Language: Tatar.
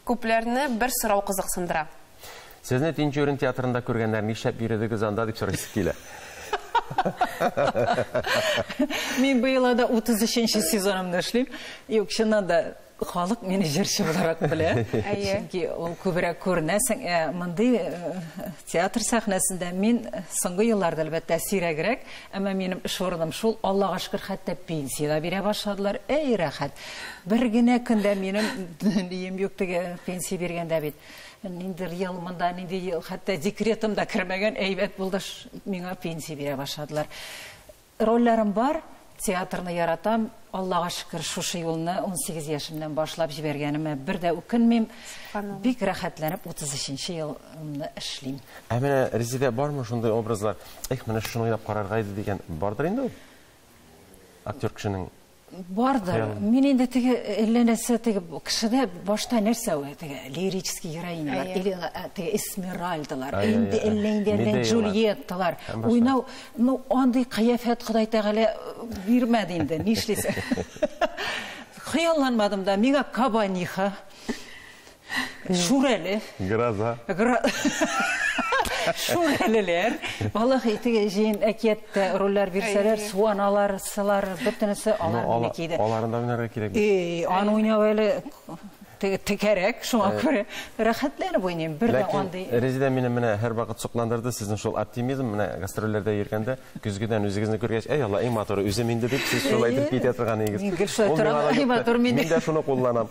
Күпләрне бер сорау кызыксындыра. Сезне Тинчурин театрында күргәннәр, нишләп йөредегез анда, дип сорыйсы килә. Мин быел анда 33 нче сезонымны эшлим. Юк, чыннан да, халык мине җырчы буларак белә. Чөнки ул күбрәк күренәсең. Ә мондый театр сәхнәсендә мин соңгы елларда, әлбәттә, сирәгрәк, әмма минем эш урыным шул. Аллага шөкер, хәтта пенсия дә бирә башладылар. Әй, рәхәт! Бер генә көн дә минем нием юк теге пенсия биргәндә бит. Ниндер ел монда, нинди ел, хәтта декретым да кермәгән, әйбәт булды, миңа пенсия бирә башладылар. Рольләрем бар, театрны яратам, Аллага шөкер, шушы юлны унсигез яшемнән башлап җибәргәнемә бер дә үкенмим. Субханалла. Бик рәхәтләнеп утыз өченче елымны эшлим. Ә менә Резедә бармы шундый образлар, эх, менә шуны уйлап карарга иде дигән, бардыр инде ул? Актер кешенең Бардыр. Мин инде теге әллә нәрсә теге кешедә башта нәрсә ул теге лирический героинялар или теге эсмеральдалар, инде әллә инде әллә Джульетталар. Уйнау, ну андый кыяфәт Ходай Тәгалә бирмәде инде, нишлисең. Хыялланмадым да, миңа Кабаниха. Шүрәле. Гроза. Шүрәлеләр. Валлахи, теге җыен әкияттә рольләр бирсәләр, суаналар, сылар, бөтенесе алар гына киде. Аларын да уйнарга кирәк. И, аны уйнау әле текәрәк, шуңа күрә рәхәтләнеп уйныйм. Бер дә андый. Ләкин Резеда мине менә һәрвакыт сокландырды, сезнең шул оптимизм, менә гастрольләрдә йөргәндә, көзгедән үзегезне күргәч, әй Алла, иң матуры үзем инде, дип сез шулай итеп китә торган идегез. Мин дә шуны кулланам.